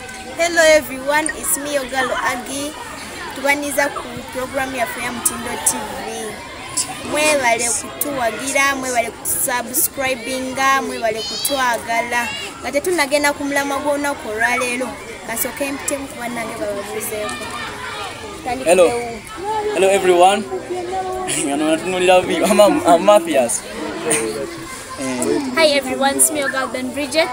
Hello everyone, it's me Ogalo Agi. Tubaniza ku program ya Fuya Mtindo TV. Mwebale kutuwagira, mwebale kusubscribinga, mwebale kutwagala. Ngate tunagenda ku mulamwa gw'olunaku olwaleero. Kasooke mpitemu ku bannange bababuuzeeko. Hello. Hello everyone. Ngano natunulira bi. I'm Mathias. Hi everyone, it's me Ogalo Ben Bridget.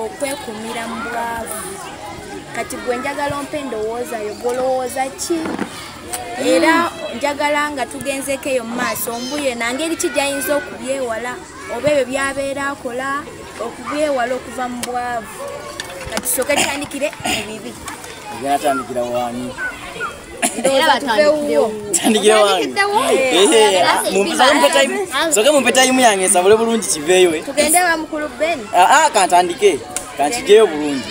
okwekumira mu bwavu kati gwe njagala ompa endowooza yo gwolowooza ki era njagala nga tugenzeko eyo mu maaso mbuye nangeri ki gyayinza okubyewala oba ebyo byabeera akola okubyewala okuva mu bwavu kati soka tandikire ebibi atandikira wani soke mumpe tayimu yange nsabule bulungi kiveeyo kantandike kankigeyo bulungi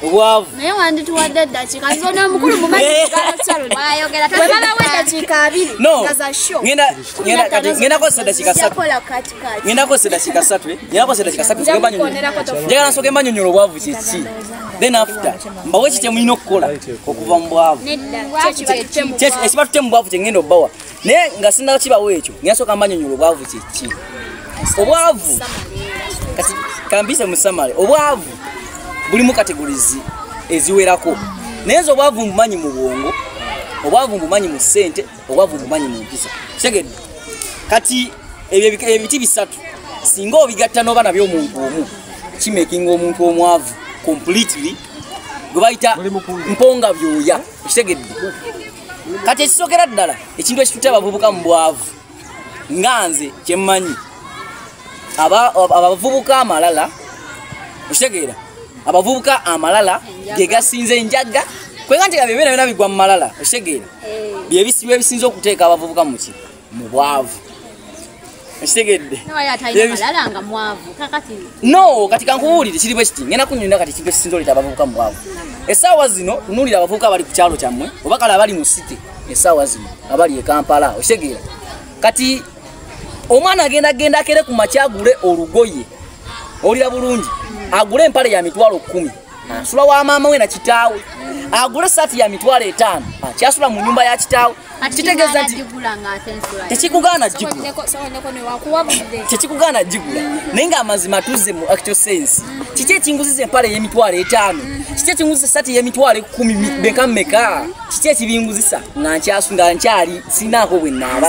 obwavu naye wandituwadde eddakiika zona mukulu mumaedakiikaabirigendakozesa eddakiika satungendakozesa eddakiika satu njagala nsoke mbanyonyola obwavu kyeki then after mbawe kye mulina okukola okuva mu bwavu ekiba tute mu bwavu kye ngenda obawa naye nga sindawo kibawo ekyo ngenasooka mbanyonyola obwavu kyeki obwavu kati kambise musamale obwavu bulimu kategorizi eziwerako naye nze obwavu mbumanyi mu bwongo obwavu mbumanyi mu ssente obwavu bumanyi mu mpisa kitegedde kati ebyo ebiti bisatu singa obigatta n'oba nabyo omuntu omu kimakinga omuntu omwavu completely gwe bayita mponga byoya ekitegedde kati ekisokera ddala ekintu ekitutte abavubuka mu bwavu nga nze kyemmanyi abavubuka amalala okitegeera abavubuka amalala ge gasinze enjaga kwega nti ebyo byona byona bigwa mu malala okitegeera byebisiba ebisinza okuteeka abavubuka muki mu bwavu ekitegedde no kati kankubuulire kiri bwe kiti ngenda kunyonyola kati kibe kisinza oleeta abavubuka mu bwavu essaawa zino tunuulira abavubuka abali ku kyalo kyammwe oba kale abali mu site essaawa zino abali e kampala okitegeera kati omwana agenda genda akere ku makyagule olugoye olira bulungi agule empale ya mitwalo kkumi asula wa maama we na kitaawe agula esaati ya mitwalo etaano akyasula mu nyumba ya kitaawe kitegeeza nti tekikugaana gigulatekikugaana gigula naye nga amazima tuzze mu actual sense kiki ekinguziza empala eyemitwalo etaano kiki ekinguzisa esaati eyemitwalo ekumi beka meka kiki ekibinguzisa nga nkyasu nga nkyali sinaako bwe naaba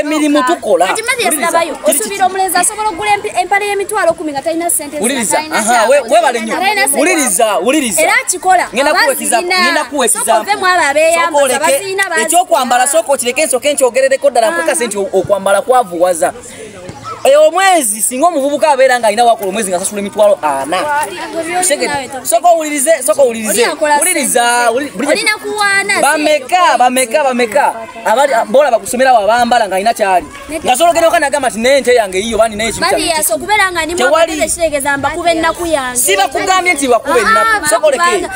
emirimu eh, tukolaosubira omulenzi asobola okugula empale y'emitwalo kumi nga talina senteulirizaera akikola ekyokwambala sooka okireke nsooka enkyogerereko ddala mpaka sente okwambala kwavuwaza Eh, omwezi singa omuvubuka abeera nga alina wakola omwezi ngasasula emitwalo ana soka owulirize soka owulirize wuliriza bameka bameka bameka bola bakusomerawo abambala nga alina kyali ngasologera oka nagamba nti naye nte yange yiyo bandi naye sibakugambye nti wakuba ennaku ah, soka oleke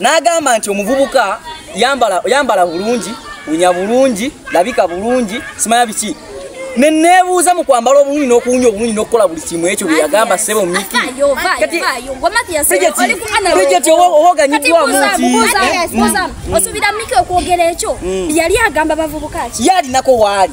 n'agamba nti omuvubuka yambala bulungi unya bulungi labika bulungi simanya biki nenebuuza mu kwambala obulungi n'okuwunya obulungi n'okukola buli kimu ekyo bye yagamba ssebo mikibrijeti owoganyiddwamu ntiosubira miki okwogera ekyo yali agamba bavubuka ki yalinako waali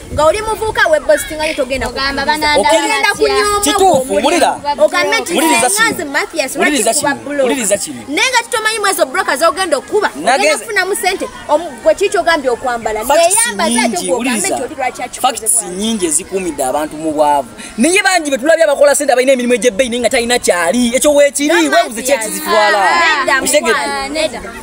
nga oli muvuuka webostinga nyo togenda ogenda kunyomaogambeuliriza kino naye nga tutomanyi mwezo broka zogenda okukuba ogenda kufunamu sente gwe kiki ogambye okwambala neyambazatfacts nyingi ezikuumidde abantu mu bwavu naye bangi betulabye abakola sente abalina emirimu egyebbeyi naye nga talina kyali ekyo wekiri webuze kyekizitwala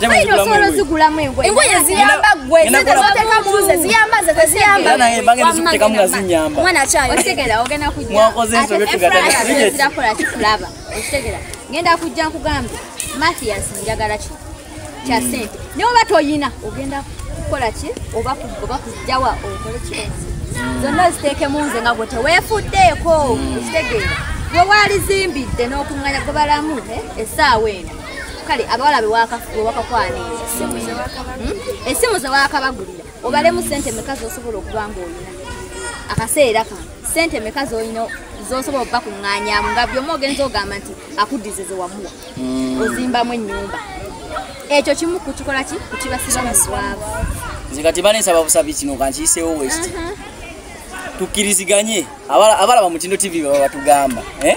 Saidi osobola ozigulamu engoye. Engoye ziyamba gwe zete zoteka muze ziyamba zete ziyamba. Yana ye bange zikuteka mu gazinyamba. Mwana chayo. Otegera ogena kujja. Mwakoze nso byetugada. Zira kola kikulaba. Otegera. Ngenda kujja nkugamba. Mathias njagala ki. Kya hmm. sente. Ne oba toyina ogenda kukola ki oba kugoba kujjawa okole ki. Hmm. Zonna ziteke muze nga gwe tewefuddeeko. Hmm. Otegera. Gwe walizimbidde n'okunganya gobalamu eh, esaawa eno. kale abawala bewakakwana esimu hmm? zewakabagulira obalemu sente meka zosobola okuba nga olina akaseera kano sente meka zolina zosobola okuba kuŋŋanyamu nga byomu ogenza ogamba nti akuddize zewamuwa hmm. ozimbamu ennyumba ekyo kimu kukikola ki kukibasiba mu bwavu nze kati banesaba busabi kino kankiyiseewo wekiti tukkiriziganye abala bamutindo tv baba batugamba eh?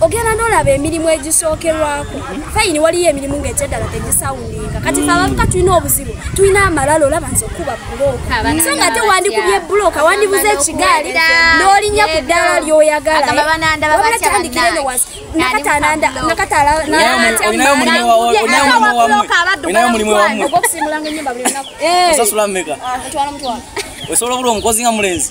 ogenda nolaba emirimu egisookerwako fayini waliyo emirimu ngaekyeddala tegisawundinga kati fe abavuka tulina obuzibu tulina amalala olaba nze okuba bulooka so nga ate wandikubye bulooka wandibuza ekigaali n'olinya ku ddaala lyoyagalaaatandikire nowasi nakatanaandaaokusimulanga enyumba buli lunaku osobola obula omukozi nga mulenzi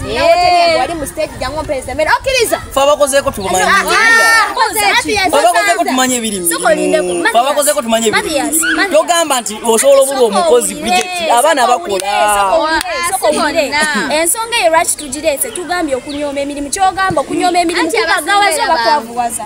fabakozeko tumanye ebirimufabakozeko tumanye ebirimu togamba nti osobola obulwa omukozi abaana bakola ensonga eyo lwaki tugireese tugambye okunyooma emirimu kyogamba okunyooma emirimu kibagawaza obakwavuwaza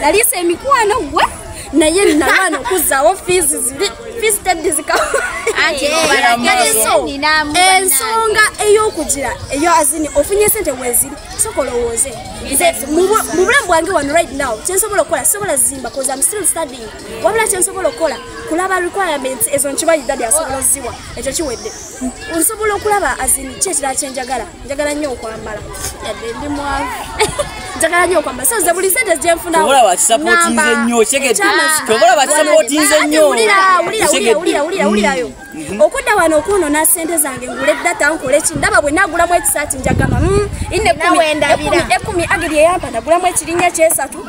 naliisa emikwano gwe naye nalwana okuzzaawo fiizi ziri fiizi teddi zikawaaliso ensonga ey'okugira eyo azini ofunye sente weziri soka olowooze mu bulamu bwange wano right now kyensobola okukola sobola zimba koza am still studying wabula kyensobola okukola kulaba requirements ezo nkibayidadi asobola oziwa ekyo kiwedde nsobola okulaba azini kyekirala kyenjagala njagala nnyo okwambala yadde ndi mwavu njagala nnyo okwambala so nze buli sente gyenfunaobola bakisapotinze nnyo kyegeobola bakisapotinze nnyo wulirayo mhm. okudda wano okwonona sente zange ngule data nkole ki ndaba bwe nagulamu ekisaati njagama mm, inekumi ageri eyampa nagulamu ekirinya kyesatu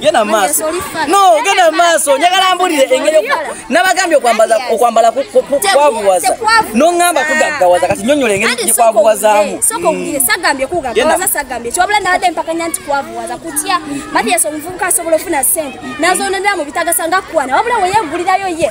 genda maaso no genda maaso njagala mbulire engeri nabagambye okwambala okwambala kwavuwaza noŋamba kugaggawaza kati nyonyola engeri gyekwavuwazaamu nazoonera mu bitagasa nga kwana wabula weyegulirayo ye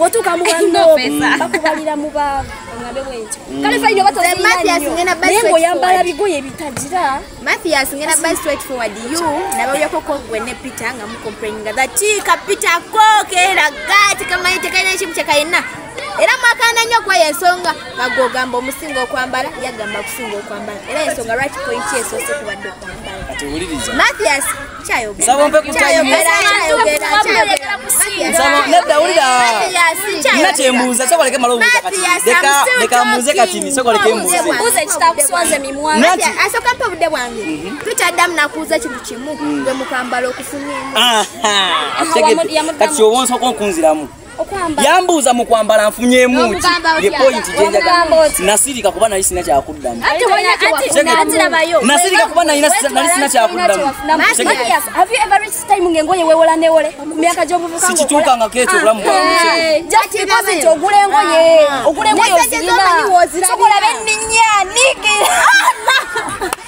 bwotuuka mu bakubalira mu baŋŋambe bwentyo mm. kale fayina obatnaye ngaoyambala bigoye bitagira mathias ngenda by straight forward you nababyako kogwe ne peter nga mucomplaininga the kiika peter ko keraga tekamanyi tekalina ekimu kyekayenna era mwakanda nnyo kuba yensonga nga gwogamba omusinga okwambala yagamba okusinga okwambala era yensonga lwaki point yesoose kubadde okwambala mathias nsaba ompe ku tayimu nsaba nedda wulira nina kyembuuza soka leke mala obuuza kati leka leka mbuuze kati ni soka leke mbuuze mbuuze kitakuswaze mimwa nati asoka mpe obudde bwange mhm. tutaddamu nakuuza ekintu kimu gwe mukambala okufunyemu kati obonsoka okunziramu yambuuza mu kwambala nfunyemu ki ye pointi gyenjagala nasirika kuba nali sina kyakuddamu nasirika kuba nali sina kyakuddamu sikituukangako ekyo obulamu bwaogula engoye ogula engoye ozirina sokola benninya niki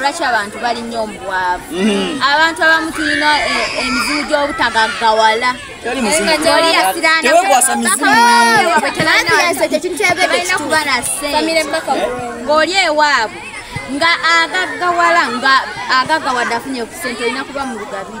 lwaki abantu balinyo omubwavu mhm. abantu abamu tulina eh, emizimu gy'obutagaggawala ng'oli ewaabwe nga agaggawala nga agaggawadde afunye ku sente olina kuba mu lugabiri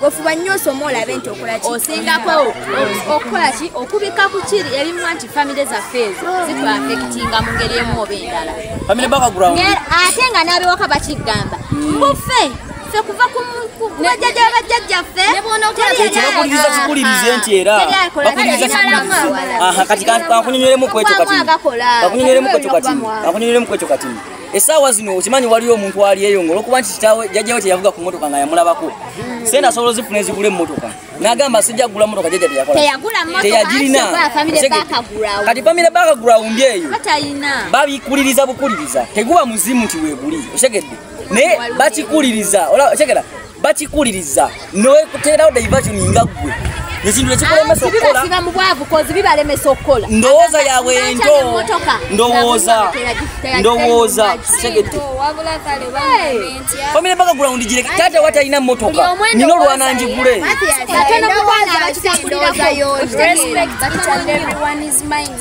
gwefuba nnyo osoma olabe nti okolaki osingako okukola ki okubika ku kiri ebimu nti famire zaffe ezo zitwafekitinga mu ngeri emu oba endala ate nga n'abewaka bakigamba mbufe ffe kuva ku bajjajja bajjajjaffe kyokuliriza kikulirize nti era bakuliriza kati kakunyonyolemu kwekyo kati kakunyonyolemu kwekyo kati kakunyonyolemu kwekyo katini esaawa zino okimanyi waliyo omuntu aliyeyo nga olwokuba nti kitawe jajjawe teyavuga ku motoka nga yamulabako sente asobola ozifuna ezigula emotoka nagamba sijja kugula motoka jaja teyakolateyagirinakati famire bakagula wumbi eyo babikuliriza bukuliriza teguba muzimu nti weguli otegedde naye bakikuliriza otegera bakikuliriza newekuteerawo diversion nga ggwe ekintu ekikulemesa ah, okukolabiba mu bwavu kozi bibalemesa okukola ndowooza yaabwe ento ndowooza ndowooza tegedde famire mpaka gula undi gireke taata wa talina mmotoka nina olwana njigule Respect each and everyone's mind.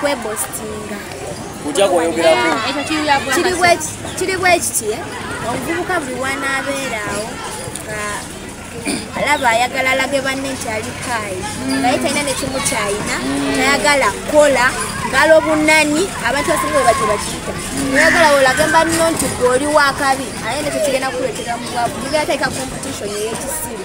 kwebostinga kiri bwekiti eh? omuvubuka buli wanaabeeraawo alaba ayagala alage banne nti alikaayi naye talina nekimukyayina tayagala kukola ngalo bunani abantu basinga webati bakiyita oyagala olage banno nti gwe oli wakabi aye nekyo kigenda kukuletera mubwavu mugera taika competition eyekisiru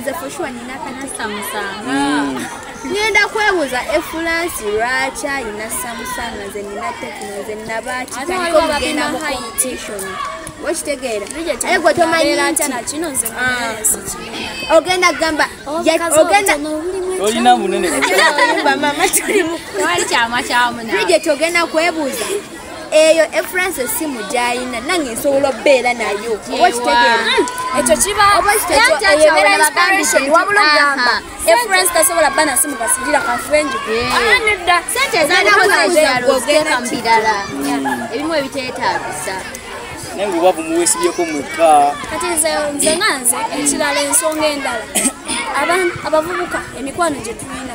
nze fushuwa nina katasamusanga mm. ngenda kwebuuza efulansi lwaki ayina samusanga nze nina tekino nze nabakitandika okugenda mu competition okitegeera aye gwe tomanyi nti ah. ogenda kugamba oh, olina munene mama tuli mukwali kyama kyamunaa bridget ogenda kwebuuza eyo efrance esimu gyayina nange nsobola obeera nayo oba kitegeera hmm. ekyo kibaobaeyobeerainspiratwabula ogamba efrance tasobola ba nasimu basigira kafenji nedda sente ezanaogenda mu birala ebimu ebiteetaagisa naye nga obavu muwesibyeko mwekka kati nze nze nga nze ekirala ensonga endala abavubuka emikwano gye tulina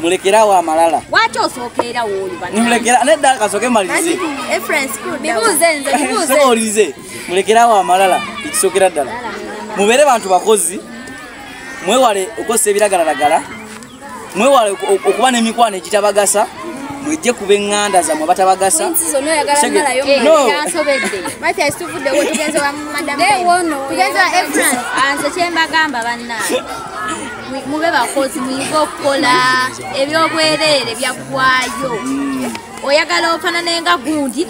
mulekerawo amalala lwaki osookeera woolibamulekera nedda kasooke malirize olirize mulekerawo amalala ekisookera ddala mubeere bantu bakozi mwewale okukozesa ebiragalalagala mwewale okuba n'emikwano egitabagasa mwejje kuba eŋŋanda zammwe batabagasa mube bakozi muyige okukola ebyobwereere byaggwayo oyagala ofanane nga gundi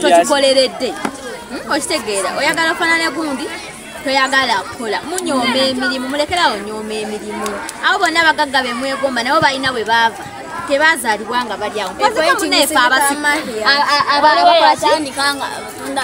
tokikoleredde hmm, okitegeera oyagala ofanane gundi toyagala kukola munyooma emirimu mulekerawo nyooma emirimu abo bonna abagagga bemwegomba nabo balina bwe baava tebazalibwa nga balyawo abakola kyandika nga batunda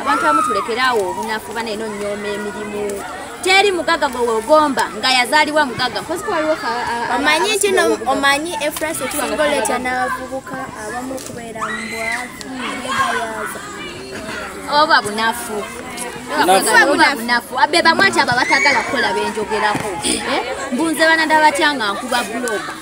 abantu abamu tulekere awo obunafu bana eno nyooma emirimu teri mugaga gwe wegomba nga yazaalibwa mugaga omanyi nti no omanyi efrasi ekisingoletya n'abavubuka abamu okubeera mubwavuegayaza oba bunafu bebamwati abo abatagala kukola benjogerako eh? mbunze banadabatya nga nkuba buloga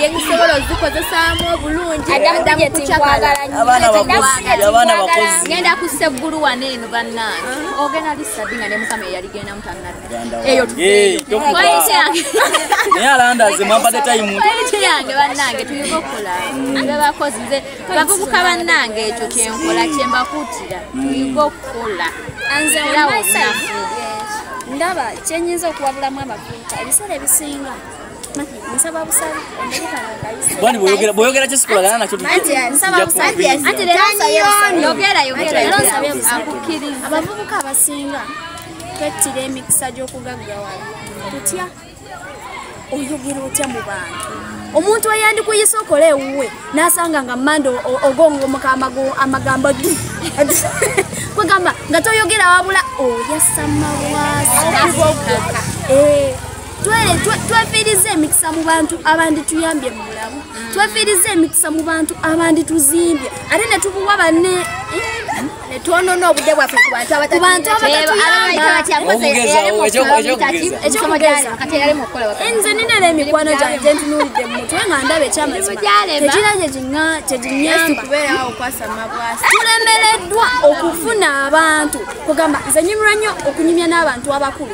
yenyisobola ozikozesaamu obulungi genda ku seggulu wano eno bannange ah. ogenda lisabi nga ne mukama eyaligendamu tannaeyoyange bannange tulina okukola bebakozi nze bavubuka bannange ekyo kyenkola kyembakuutira tuyiga okukola ndaba kyenyinza okuwabulamu abavubuka ebiseera ebisinga Bwani boyogera boyogera kye sikola gana nacho tujja abavubuka abasinga twettira emikisa gy'okugaggawala tutya oyogera otya mu bantu omuntu eyandikuyisa okola ewuwe n'asanga nga mande ogongomuka amagambo di kwegamba nga toyogera wabula oyasamawaasa twefiiriza emikisa mu bantu abandituyambye mu bulamu mm. twefiiriza emikisa mu bantu abandituzimbye ate ne tubuwa banne netwonona obude bwaffe ku bantu abatatuyambanze ninera emikwano gyange ntunulidde mu mutwe nga ndaba ekyamazimaekira kyekinyambatulemereddwa okufuna abantu kugamba nze nyumira nnyo okunyumya n'abantu abakulu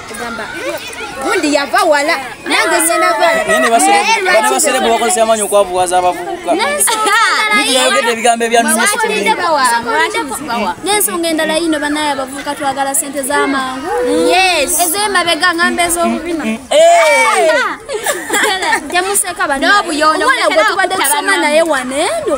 gamba gundi yava wala nange ngenda valabaserebu bakozesa amanyi okwavuwaza abavubuka yayogedde ebigambo ebyanensonga endala yino banaye abavubuka twagala sente zamangu ezemabega ngamba ezobubina mm, mm, mm. temuseka banobuyonoobwetubadde tusoma naye waneeno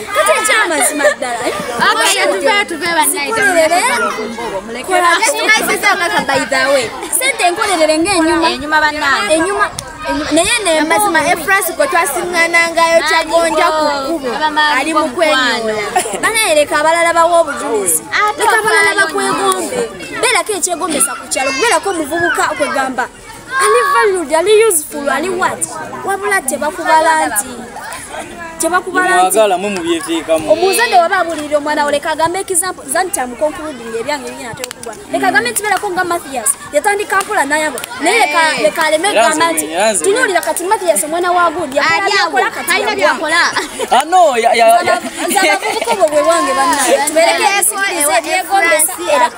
kati ekyamazima ddala eh? sente enkolerere ngaenyuma naye nemazima efrance gwe twasiŋanangayo kyagonja ku kkubo ali mu kwenyola banayereka abalala bawa obujulizi leka abalala bakwegombe beerako ekyegombesa ku kyalo kubeerako omuvubuka kwegamba ali valid ali useful ali wat wabula tebakubala nti omuzadde waba abulirira omwana wo leka agambe example zani kyamukonkuludinga ebyange nyina tokugwa leka agambe nti berako nga mathias yatandika mpola nayabo naye leka aleme egamba nti tunuulira kati mathias omwana wa good yakola katalina byakola abavubuka obwo bwe bwange bannaye tuberekeesigiriza ebyegombesa era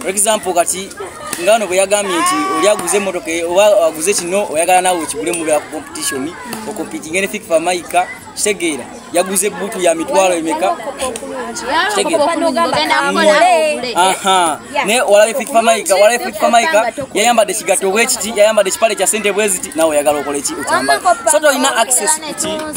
for example kati nga wano bwe yagambye nti oli aguze emotoka e, oba aguze kino oyagala naawe okigule mubera ku competition okompitinge ne fifa maika kitegeera yaguze ebutu ya mitwalo emeka naye olabe fifa maika olabe fifa maika yayambadde ekigatto bwekiti yayambadde ekipale kya sente bweziti naawe oyagala okoleki okyambala so tolina access kuti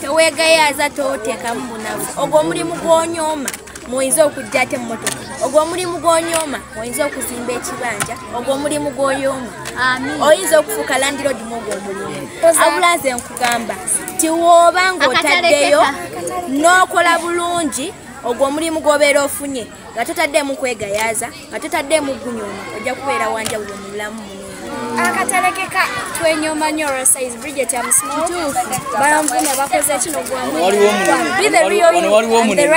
teweegayaaza toteekamu bunafu ogwo omulimu gw'onyooma muyinza okujja ate mmotoka ogwo omulimu gw'onyooma oyinza okuzimba ekibanja ogwo omulimu gw'oyooma oyinza okufuuka landirodi mu ogwo omulimu abula nze nkugamba ti wooba ng'otaddeyo n'okola bulungi ogwo omulimu gw'obeera ofunye nga totaddeemu kwegayaaza nga totaddeemu gunyooma ojja kubeera wanjawulo mu bulamu akatalekeka twenyoma nyo rosize bridget amusmbalamvuna bakoze kino gwamwaliwomunaye